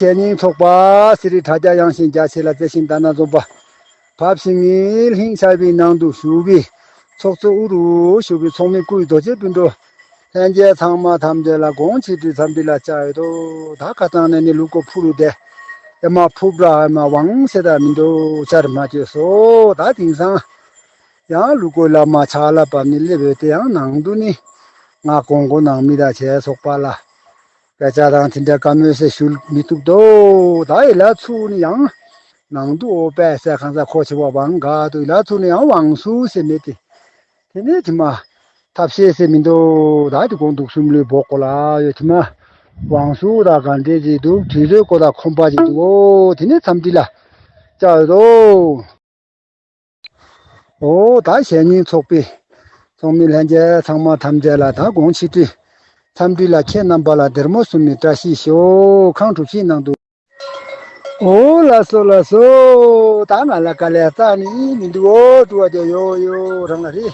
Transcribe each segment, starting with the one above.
ཆད་སྙིང་ཚོགས་པ་སི་རི་དྲ་རྒྱ་དབྱངས་ཤིང་རྒྱ་ཆེ་ལ་བརྩེ་ཞིང་བལྟ་ན་འཛོམས་པ། བབས་ཤིང་ངེས་ལྷིང་ཆར་བུའི་ནང་དུ་བཞུགས་པའི། ཚོགས་གཙོ་དབུ་རུ་བཞུགས་པའི་ཚོགས་མི་སྐུའི་རྡོ་རྗེ་སྤུན་གྲོགས། ལྷན་རྒྱལ་ཚང་མ་དམ་འདས་ལ་དགོངས་ཆེ་བཀྲིས་འཚམས་འདྲི་ལ་བཅར་ཡོད་དོ། ད་ག་ཙང་ནས་ནི་ལུག་གོ་ཕུ་རུ་བསྡད། ཨེ་མ་ཕུག་བྲག་ཨེ་མ་བང་སེ་དག་མི་འདུག་བཅར་མ་བཅོས་སོ། ད་དེང་སང་ཡང་ལུག་གོའི་བླ་མ་ཕྱག་རླབས་བབས་ནས་སླེབས་ཡོད་དེ་ཡང་ནང་དུ་ནི། ང་ཀོང་གོ་ནང་མི་དག་བྱས་ཚོགས་པ་ལ། སྐད་ཆ་དང་དེ་འདྲ་བཀའ་མོལ་སེ་ཞུ་མི་ཐུབ་དོ། ད་ཨི་ལ་ཚུགས་ནི་ཡང། ནང་དུ་ཨོ་པད་སེ་ཁང་ས་ཁོ་ཆེ་བ་བང་དགའ་དུ་ཨི་ལ་ཚུགས་ནི་ཡང་བང་སུ་སེ་མེད་དེ། དེ་ནས་དེ་མ། ཐབས་ཤེས་སེ་མི་འདུག་ད་དེ་དགོངས་འདུག་སུམ་ལུས་འབོག་གོ་ལ་ཡོད་དེ་མ། བང་སུ་དང་གང་འབྲེལ་ཅིག་འདུག་དུས་ཚོད་ཀོ་དང་ཁོམ་པ་ཅིག་འདུག་དེ་ནས་འཚམས་འདྲི་ལ། བཅར་ཡོད་དོ། འོ་ད་བཤད་ཉིན་ཚོགས་པའི་ཚོགས་མི་ལྷན་རྒྱས་ཚང་མ་ཐམས་ཅད་ལ་ད་དགོང་ཕྱི་དྲིལ་མཚམས་དྲིལ་ལ་ཁྱེད་རྣམ་པ་ལ་སྡེར་མོ་གསུམ་མི་བཀྲ་ཤིས་ཤོག་ཁང་དྲུག་བཞིའི་ནང་དུ། འོ་ལ་སོ་ལ་སོ། ད་ང་ལ་དཀའ་ལས་རྩ་ནི་མི་འདུག་འོ་དྲུ་བ་དེ་ཡོ་ཡོ་རང་ལ་རེད།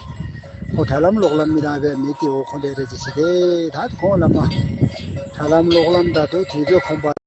ཁོ་དྲ་ལམ་གློག་ལམ་མི་རང་བས་མི་དེ་འོ་ཁོ་འདྲས་རེད་ཅེས་བྱས་ཏེ་ད་དེ་ཁོང་ལ་སྨྲ། དྲ་ལམ་གློག་ལམ་ད་དུ་དུས་ཚོད་ཁོམ་པ།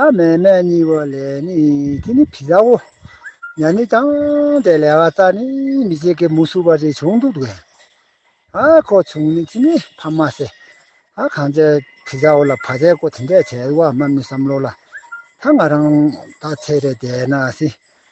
ཨ་མས་སྨད་གཉིས་པོ་ལས་ནི་དེ་ནི་བི་ཟའོ། ཡ་ནི་ཀྱང་དེ་ལས་བ་ཙ་ནི་མི་བྱེད་ཀི་མུ་སུ་བ་རེ་བྱུང་འདུག་དགོས། ཨ་ཁོ་བྱུང་ནི་དེ་ནི་ཕ་མ་སེ། ཨ་གང་ཚེ་བི་ཟའོ་ལ་བ་ཙའི་ཀོ་དེ་འདྲས་བྱས་བ་སྨ་མི་བསམ་ལོ་ལ། ད་ང་རང་ད་ཚེ་རེ་བསྡད་ན་སི།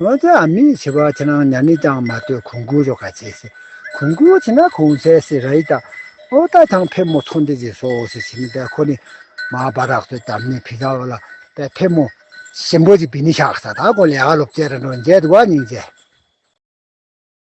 འོན་ཀྱང་མི་ཡིས་བྱི་བ་ཁྱེད་རང་ཉར་ནས་ཀྱང་མ་ལྟོས་གོང་བཀུར་རོགས་ག་བྱེད་སྲིད། གོང་བཀུར་བྱེད་ན་གོང་བསད་སྲིད་ར་ཡི་ད། ཨོ་ད་ཐང་ཕེབས་མོ་ཚོང་འདི་བྱེད་སོ་ཟེར་བྱེད་མི་དད་ཁོ་ནི། མ་བ་རག་ཚོའི་དམ་ནི་བི་ད་བ་ལ་པད་ཕེབས་མོ། ཞིམ་པོ་ཅིག་བི་ནི་ཤག་ས་ད་གོ་ལེ་ཨ་ལོ་བཅས་ར་འགྲོ་འཇལ་དུ་བ་ཉིང་བཅས།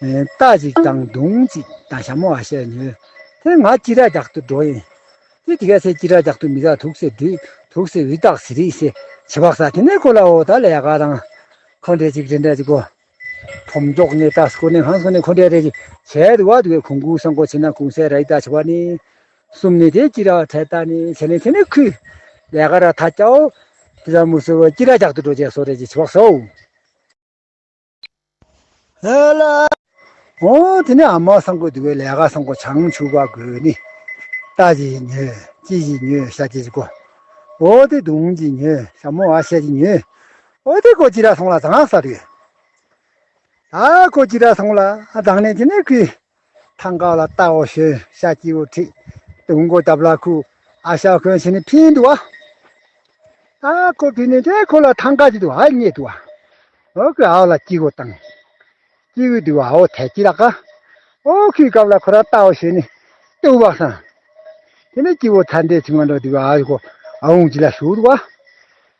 རྟ་ཅིག་དང་གདུང་ཅིག་དང་ཞྭ་མོ་བ་ཤས་ཉོས། དེ་ང་ཅི་ར་རྒྱག་ཏུ་འགྲོ་ཡིན། དེ་དེ་གས་ཚེ་ཅི་ར་རྒྱག་ཏུ་མི་ད་དུག་སེ་འདི་དུག་སེ་འི་དག་སེ་རིག་སེ་བྱི་བག་ས་དེ་ནས་ཁོ་ལ་འོ་ད་ལ་ཡ་ག་དང། ཁོ་འདྲེ་ཅིག་རེ་འདྲ་ཅིག་གོ། ཁོ་མགྱོགས་ནས་ད་སྐོ་ནས་ཧང་སོ་ནས་ཁོ་འདྲེ་རེ་ཅིག་བྱས་དུ་བ་དུ་བས་ཁོ་འགུག་ས་འགོ་བྱེད་ན་གུང་སེ་ར་འི་དག་བྱི་བ་ནི། གསུམ་ནས་དེ་ཅི་ར་བ་ཁྲལ་ད་ནི་བྱས་ནས་དེ་ནས་ཁུ། ལ་ཡ་ག་ར་ད་སྐྱའོ། དེ་ད་མུ་སེ་བ་ཅི་ར་རྒྱག་ཏུ་འགྲོ་བྱས་སོ་རེ་ཅིག་བྱི་བག་སོའོ། དེ་ནས་ཨ་མའོ་སང་གོས་དུ་བའི་ལས་ཀ་སང་གོ་བྱང་ཆུབ་བ་གོས་ནི། རྟ་ཅི་ཡིས་ཉོས་ཅི་ཞིག་ཉོས་ཤ་ཅི་ཞིག་གོ། ཨོ་དེ་དུང་ཅི་ཉོས་ཤ་མོ་ཨ་ཤ་ཅི་ཉོས། ཨོ་དེ་གོ་ཅི་ར་སོང་ལ་དང་ས་རེད། ཨ་གོ་ཅི་ར་སོང་ལ་དང་ནས་ཅི་ནས་ཁུས། ཐང་ག་ལ་རྟ་བོ་ཞོན་ཤ་སྐྱིད་བོ་ཁྲིད། དུང་མགོ་སྟབས་ལ་ཁུ་ཨ་ཤ་གོན་བྱས་ནས་ཕིན་འདུག་ཨ། ཨ་ཁོ་ཕིན་ནས་དེ་ཁོ་ལ་ཐང་ག་ཅིག་འདུག་ཨ་རྙེད་འདུག་ཨ། ཨོ་ཁོས་ཨོ་ལ་སྐྱིད་བོ་བཏང། སྐྱིད་བོས་འདུག་ཨ་ཨོ་ཐལ་སྐྱིད་ལ་ཀ། ཨོ་ཁོའི་སྐབས་ལ་ཁོ་རང་རྟ་བོ་ཞོན་ནས་ཏུ་བག་སངས། དེ་ནས་སྐྱིད་བོ་ཚ་འདྲེ་ཆུང་མ་འགྲོ་འདུག་ཨ་ཨོ་ཁོ་ཨ་འུང་ཅིག་ལ་ཞུགས་འདུག་ཨ།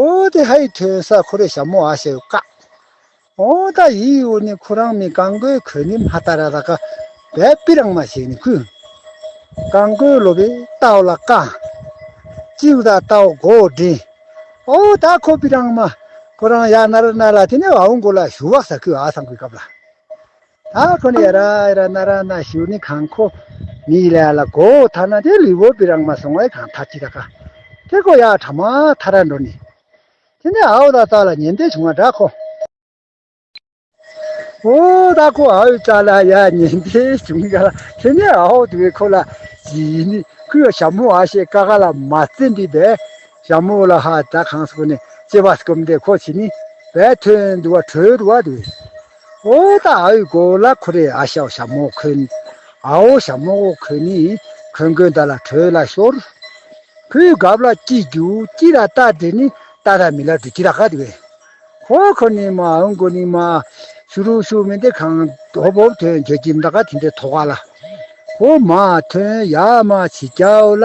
ཨོ་དེ་ཧ་ཡི་ཐོས་ས་ཁོ་རེ་ཞྭ་མོ་ཨ་ཞེ་ཀ། ཨོ་ད་ཡི་ཡི་ཨོ་ནི་ཁུ་རང་མི་ཀང་གོའི་གོས་ནི་མ་ཏ་ར་ད་ཀ་བའི་པི་རང་མ་ཞེ་ནི་ཁུ། ཀང་གོའི་ལོ་བི་ཏའོ་ལ་ཀ། ཅི་ཨུ་ད་ཏའོ་གོ་ཨོ་དྲི། ཨོ་ད་ཁོ་པི་རང་མ་ཁོ་རང་ཡ་ན་ར་ན་ལ་དེ་ནི་ཨའུ་གོ་ལ་ཞུ་བ་ས་ཁུ་ཨ་སང་གོའི་ཀབ་ལ། ཨ་ཁོ་ནི་ཡ་ར་ཡ་ར་ན་ར་ན་ཞུ་ནི་ཁང་ཁོ་མི་ཡི་ལ་ལ་གོ་ཐ་ན་དེ་ལི་བོ་པི་རང་མ་སོང་བའི་ཁང་ཐ་ཅི་ད་ཁ་ཐེ་གོ་ཡ་ཁྲ་མ་ཐ་ར་འགྲོ་ནི་དེ་ནི་ཨའོ་ད་ཙ་ལ་ཉེན་དེ་བྱུང་བ་འདྲ་ཁོ་ཨོ་ད་ཁོ་ཨའོ་ཙ་ལ་ཡ་ཉེན་དེ་བྱུང་ག་ལ་དེ་ནི་ཨའོ་དེ་བས་ཁོ་ལ་ཇི་ཡི་ནི་ཁུ་ཡོ་ཞབས་མོ་ཨ་ཤེ་ཀ་ཁ་ལ་མ་ཙེ་འདི་བས་ཞབས་མོ་ལ་ཧ་ད་ཁང་སོ་ཁོ་ནི་ཅེ་བ་སྐུམ་དེ་ཁོ་ཆི་ནི་བས་ཐོན་དུ་བ་ཁྲོལ་དུ་བ་དེ་བས། ཨོ་ད་ཨའུ་གོ་ལ་ཁོ་རེ་ཨ་ཤའོ་ཤ་མོ་ཁོན། ཨའོ་ཤ་མོ་ཨོ་ཁོན་ནི་ཁོན་ཁོན་ད་ལ་ཁྲོས་ལ་ཤོར། ཁོའི་གབ་ལ་ཀྱི་རྒྱུ་ཀྱི་ར་ཏཱ་དེ་ནི་ཏཱ་ར་མི་ལ་དུ་ཀྱི་ར་ཀ་དེ་བས། ཧོ་ཁོ་ནི་མ་ཨུན་གོ་ནི་མ། ཤུ་རུ་ཤུ་མི་འདི་གང་དོ་བོ་ཐོན་གྱ་ཀྱི་མདའ་ཀ་དེ་འདི་ཐོ་ཀ་ལ། ཧོ་མ་ཐོན་ཡ་མ་ཆི་ཀྱའོ་ལ།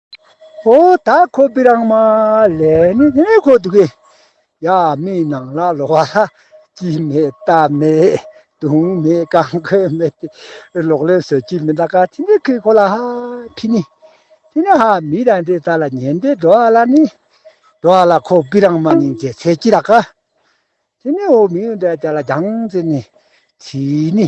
ཧོ་ད་ཁོ་པི་རང་མ་ལེ་ནི་ནི་ནི་ཁོ་དུ་གི་ཡ་མི་ནང་ལ་ལོ་བ་ལ་ཅི་མེད་རྟ་མེད་དུང་མེད་གང་ཁོ་མེད་ཏི་ལོག་ལེན་ཟོ་ཅི་མི་ད་ག་ཐི་ནི་ཁི་ཁོ་ལ་ཧ་ཕི་ནི་ཐི་ནི་ཧ་མི་ར་འདི་ད་ལ་ཉན་དེ་འགྲོ་བ་ལ་ནི་འགྲོ་བ་ལ་ཁོ་པི་རང་མ་ནིང་ཅེ་ཚེ་ཅི་ར་ག་ཐི་ནི་ཧོ་མི་ཡོན་ད་ད་ལ་རྒྱང་ཙི་ནི་ཚི་ནི་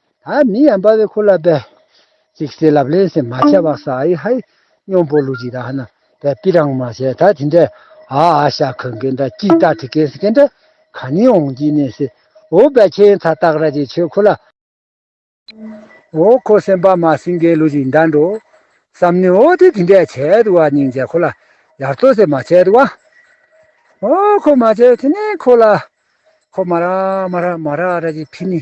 ད་མི་ཡང་པ་བའི་ཁུ་ལ་པའི། ཅིག་སེ་ལབ་ལེ་སེ་མ་བྱ་བ་སའ་ཨི་ཧའི། སྨྱོ་འབོ་ལུག་ཅིག་ད་ཧ་ན་པའི་པི་རང་མ་བྱས་ད་དེ་འདྲའི། ཨ་ཨ་ཤ་ཁུ་གེ་འདྲ་ཅིག་ཏག་ཏི་གེ་སི་གེ་འདྲ། ག་ནི་འོང་ཅིག་ནི་སི། འོ་བའི་ཁྱེའི་མཐའ་སྟག་ར་ཅིག་ཆོས་ཁུ་ལ། འོ་ཁོ་སེམས་པ་མ་སིང་གེ་ལུག་ཅིག་འདྲ་འགྲོ། སམ་ནི་འོ་དེ་དེ་འདྲའི་བྱས་དུ་བ་སྙིང་རྗེ་ཁུ་ལ། ཡར་ཏོ་སེ་མ་བྱས་དུ་བ། འོ་ཁོ་མ་བྱས་དེ་ནི་ཁུ་ལ། ཁོ་མ་ར་མ་ར་མ་ར་ར་ཅིག་ཕི་ནི།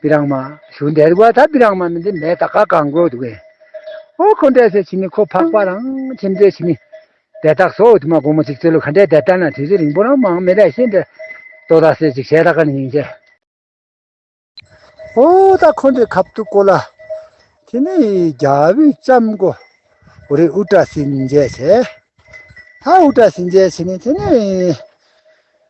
པི་རང་མ། ཞུ་འདེ་རི་བ་ད་པི་རང་མ་མི་འདི་མེ་ད་ཀ་ཀང་གོ་དུ་གེ། ཨོ་ཁོ་འདྲེ་སེ་ཆི་ནི་ཁོ་ཕག་པ་རང་ཁྱིམ་རྫེ་ཆི་ནི། དེ་དག་སོ་དུ་མ་གོ་མོ་ཅིག་ཙེ་ལུ་ཁ་འདྲེ་དེ་ལྟ་ན་དུས་ཚོད་རིང་པོ་རང་མང་མི་རེ་ཤེ་འདྲེ། ཏོ་ད་སེ་ཅིག་ཤེ་ད་ཀ་ནི་ཡིན་ཅེ། ཨོ་ད་ཁོ་འདྲེ་ཁབ་ཏུ་གོ་ལ། ཁྱི་ནི་རྒྱ་བུས་ལྕམ་གོ། ཨོ་རེ་ཨུ་ཏྲ་སིན་འཇེ་ཆེ། ཧ་ཨུ་ཏྲ་སིན་འཇེ་ཆི་ནི་ཁྱི་ནི།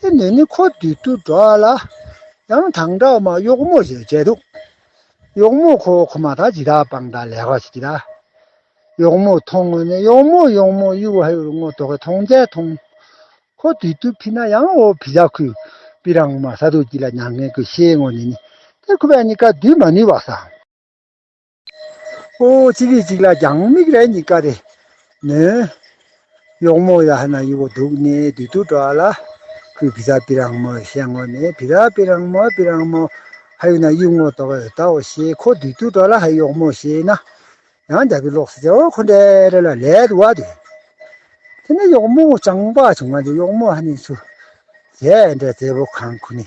དེ་ནས་ནི་ཁོ་བདུད་དུ་འགྲོ་བ་ལ། ཡང་དང་དྲག་དམག་གཡོག་མོ་ཞེས་བྱའི་འདུག། གཡོག་མོ་ཁོ་བོ་ཁོ་མ་ཐག་ཇི་དག་པང་དང་ལས་ཀ་བྱེད་ཀྱི་ལ། གཡོག་མོ་མཐོང་ངོ་ནི་གཡོག་མོ་གཡོག་མོ་གཡུ་བྷ་ཡུ་རུ་སྔོ་དོག་གི་མཐོང་རྩལ་མཐོང། ཁོ་བདུད་དུ་ཕི་ན་ཡང་ཨོ་བྷི་ཇག་ཁུ་པི་རང་མ་ས་དུག་གྱི་ལ་མྱང་ངན་ཀུ་ཤའི་ངོ་ནས་ནི། དེ་ཁུ་བས་ནི་ཀ་བདུད་མ་ནུས་པ་བཟང། ཨོའོ་ཅི་རེད་ཅིག་ལ་རྒྱང་མིག་རེ་གཉིས་ཀ་རེ་ནོན། གཡོག་མོ་ཡ་ཧ་ན་ཡི་བོ་འདུག་ནས་དུས་ཐུག་འགྲོ་ཨ་ལ། ཁོས་བི་ར་བི་རང་མོ་ཞེས་ངོ་ནས་བི་ར་བི་རང་མོ་བི་རང་མོ། ཧ་ཡོད་ན་གཡུག་མོ་དོག་ཨེ་ཡོད་དའོ་ཞེས་ཁོ་དུས་ཐུག་འགྲོ་ལ་ཧ་གཡོག་མོ་ཞེས་ན། ཡང་རྒྱ་བི་ལོག་སེ་ཨོ་ཁོ་འདྲེ་རེ་ལ་ལད་དུ་བ་དུས། དེ་ནས་གཡོག་མོ་ཅང་པ་བྱུང་ང་འདྲེ་གཡོག་མོ་ཧ་ནི་ཚུ། ཟས་འདྲེ་རྩེ་བོ་ཁང་ཁུ་ནི་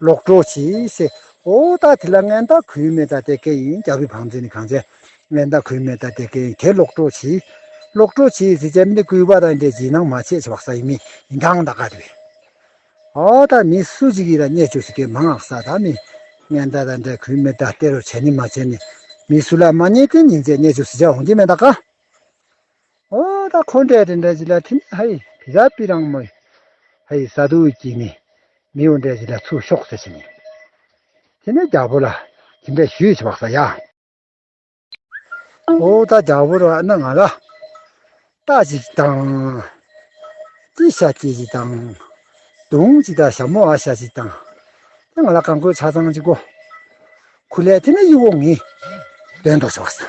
ལོག་འགྲོ་ཞེས་ཟེར། འོ་ད་དེ་ལ་ངན་དང་གུས་མེད་ད་དེ་ཀའི་ཡིན་རྒྱ་བོད་བང་མཛོད་ནི་གང་བྱས། ངན་དང་གུས་མེད་ད་དེ་ཀའི་ཡིན་དེ་ལོག་འགྲོ་ཞེས། ལོག་འགྲོ་ཞེས་ཟེར་བྱས་མི་དེ་གུས་པ་དང་འདྲའི་བྱིན་ནང་མ་ཆད་བག་ས་ཡིན་མི་ཡིན་ཐང་ད་ག་དེ་བས། འོ་ད་མི་སུ་ཅིག་གིས་ལ་བརྙས་བཅོས་ཟེར་གའི་མ་སྔགས་ས་ད་མི། ངན་ད་དང་འདྲའི་གུས་མེད་ད་དེ་རོ་བྱས་ནི་མ་བྱས་ནི། མི་སུ་ལ་མ་བརྙས་དེ་ཉིན་ཚེ་བརྙས་བཅོས་ཟེར་བྱས་འོང་གྱི་མེད་ད་ག། ཨོ་ད་ཁོ་འདྲས་དེ་འདྲས་ཅི་ལ་ཐིན་ཧ་ཧི་བི་ར་པི་རང་མོ། ཧ་ཧི་ས་དུ་ཀྱི་ནི་མི་ཨོ་འདྲས་ཅི་ལ་ཚུགས་ཤོག་ཟེར་བཞིན་ཡོད། དེ་ནས་རྒྱ་བོ་ལ་དེ་འདྲས་ཞུས་ཆེ་བག་ས་ཡ། ཨོ་ད་རྒྱ་བོ་ར་ཨ་ན་ང་ལ་རྟ་ཅིག་དང། ཀྱི་ཤ་ཀྱི་ཅིག་དང། དུང་ཅིག་དང་ཞྭ་མོ་ཨ་ཤ་ཅིག་དང། དེ་ང་ལ་གང་དགོས་ཆ་ཚང་ཅིག་གོ། ཁུ་ལས་དེ་ནས་ཡིག་འོང་ངས་འདོན་འདོག་ཆེ་བག་ས།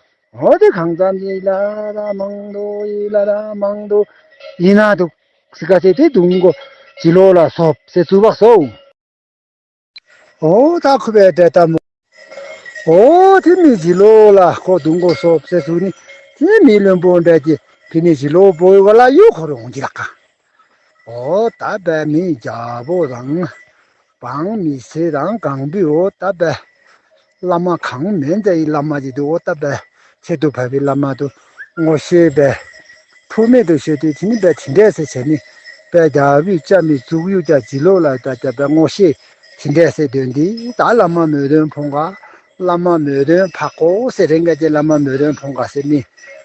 འོ་དེ་གང་ཙམ་ཞིག་བླ་ར་མང་དུ་ཡི་བླ་ར་མང་དུ་ཡི་ན་དུག་སི་ཀ་སེ་དེ་དུང་གོ་ཅི་ལོ་ལ་སོ་བསེ་ཚུ་བག་སོ་འོ་ད་ཁུ་བའི་དྲེ་ད་མོ་འོ་དེ་མི་ཅི་ལོ་ལ་ཁོ་དུང་གོ་སོ་བསེ་ཚུ་ནི་དེ་མི་བློན་པོ་འདྲ་ཀྱི་ཕི་ནི་ཅི་ལོ་བོ་ཡི་བ་ལ་ཡོ་ཁོ་རོང་ཅི་ལ་ཀ། ད་པའི་མི་ཡི་རྒྱལ་པོ་རང། བང་མི་ཚེ་རང་གང་བུ་འོ་ད་པའི། བླ་མ་གང་མེད་མཛའ་ཡི་བླ་མ་ཅིག་འདུག་འོ་ད་པའི། ཚེ་སྡུག་བར་བའི་བླ་མ་དུ་ངོ་ཤེས་པའི། ཕུག་མེད་དུ་ཤོད་དུས་དེ་ནི་པའི་དེ་འདྲས་སེ་བྱས་ནི། པའི་རྒྱལ་པོས་ལྕགས་མི་བཙུགས་ཡུག་ཀྱང་བྱིན་རློབས་ལ་ད་ད་པའི་ངོ་ཤེས། དེ་འདྲས་སེ་དོན་འདི་ད་བླ་མ་མོས་དོན་ཕོངས། བླ་མ་མོས་དོན་འཕག་གོ་སེ་རེ་འགས་ཀྱི་བླ་མ་མོས་དོན་ཕོངས་སེ་མི།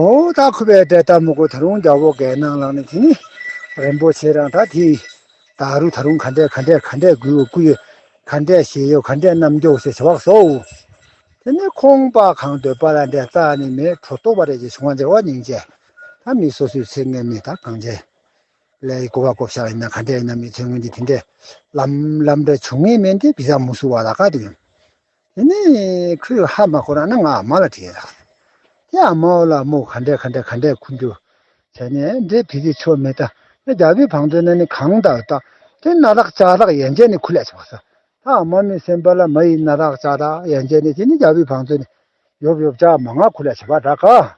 ཨོ་ད་ཁུ་བའི་སྒྲས་ལྟ་མོ་ཀོ་ད་རུང་རྒྱ་བོ་གའི་ནང་ལངས་ནས་དེ་ནི་རིན་པོ་ཆེ་རང་ད་དེ་ད་རུ་ད་རུང་ག་འདྲས་ག་འདྲས་ག་འདྲས་དགུའི་སྐུ་ཡོད་ག་འདྲས་ཞལ་ཡོད་ག་འདྲས་རྣམ་མགྱོགས་ཞེས་བྱ་བ་བཟོ། དེ་ནས་ཁོང་པ་གང་འདོད་པ་ལ་འདྲས་རྩ་ནི་མེད་ཁྲོ་ཏོ་བ་རེ་རྗེ་བྱུང་བ་འདྲེ་བ་སྙིང་རྗེ་ད་མི་སོ་སོའི་ཚེ་ངན་མི་ད་གང་འདྲས་ལས་ཀོ་བ་ཀོ་བྱ་ཡིན་ན་ག་འདྲས་ཡིན་ན་མི་ཚེ་སྔོན་གྱི་དེ་འདྲས་ལམ་ལམ་འདྲ་བྱུང་ངེས་མེད་འདི་བི་ཟ་མུ་སུ་བ་ལ་ག་དུ་ཡོང་དེ་ནས་ཁོས་ཧ་མ་གོ་རང་ན་ང་ཨ་མ་ལ་དྲིས་ལ། དེ་ཨ་མའོ་ལ་མོ་ག་འདྲས་ག་འདྲས་ག་འདྲས་ཁུ་འགྱུར་བྱས་ནས་འདྲེ་བི་ཟི་ཆོ་མེ་ད་ནི་རྒྱ་བི་བང་དོན་ན་ནི་གང་ད་བི་ད་དེ་ན་རག་ཅག་རག་ཡན་ཅན་ནི་ཁུ་ལས་ཆེ་བ་ས་ད་ཨ་མ་མི་སེམས་པ་ལ་མ་ཡི་ན་རག་ཅག་རག་ཡན་ཅན་ནི་དེ་ནི་རྒྱ་བི་བང་དོན་ནི་ཡོབ་ཡོབ་ཅག་མ་ང་ཁུ་ལས་ཆེ་བ་རག་ག།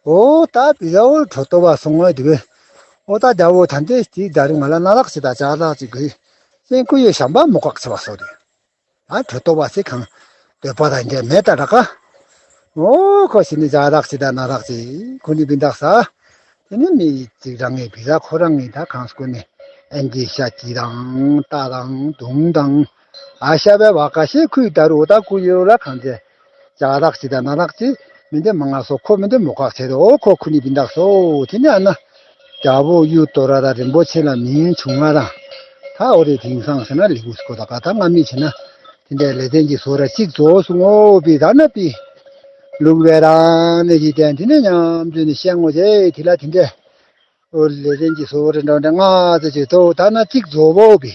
ཨོ་ད་བི་ལ་ཨོ་ཁྲོ་ཏོ་བ་སོང་ངོ་དེ་བས་ཨོ་ད་དགྲ་བོ་ཐ་འདི་དེའི་དགྲ་རི་ང་ལ་ན་ལག་ཆེ་ད་ཅག་ལག་ཅིག་གི་སེང་སྐུ་ཡོད་ཞམ་པ་མོ་ཁག་ཆེ་བ་སོགས་རེད་ཨ་ཁྲོ་ཏོ་བ་སི་གང་འདོད་པ་ད་འདྲས་མེད་ད་ར་ཁ་ཨོ་ཁོ་ཤི་ནི་ཅག་ལག་ཆེ་ད་ན་ལག་ཅིག་ཁོ་ནི་བི་འདག་ས་དེ་ནི་མི་ཅིག་རང་ངས་བི་ལ་ཁོ་རང་ངས་ད་གང་སྐུ་ནི་ཨན་དེ་ཤ་ཅི་དང་རྟ་དང་དུང་དང་ཤ་བའི་བ་ག་ཤའི་ཁུད་ལྟར་འུ་ཐག་ཁུ་ཡོད་ལ་གང་ཚེ། ཇག་བདག་ཅི་དང་ན་བདག་ཅི། མི་འདེམ་མ་ང་སོ་ཁོ་མི་འདེམ་མོ་ཁག་བྱས་ཏེ་འོ་ཁོ་ཁུ་ནི་བི་འདག་སོ་དེ་ནི་ཨ་ན། རྒྱ་བོ་གཡུ་ཏོ་ར་དང་རིན་པོ་ཆེ་ལ་མིང་བྱུང་ང་དང། ད་འོ་རེ་དིང་སང་ཟེར་ན་ལེགས་འུ་སྐོ་ད་ག་ད་ང་མི་བྱེད་ན། དེ་འདྲའི་ལེ་ཚན་གྱི་སོ་ར་གཅིག་རྫོགས་སུ་ངོ་བི་ད་ན་བི། ལུག་བའི་རང་གནས་ཀྱི་དན་དེ་ནི་ཉམས་ཚོད་ནི་ཤེས་ངོ་བྱས་དེ་ལ་དེ་འདྲའི། འོ་ལེ་ཚན་གྱི་སོ་ར་འདྲ་འདྲ་ང་ཚེ་བྱེད་དོ་ད་ན་གཅིག་རྫོགས་བོ་བི།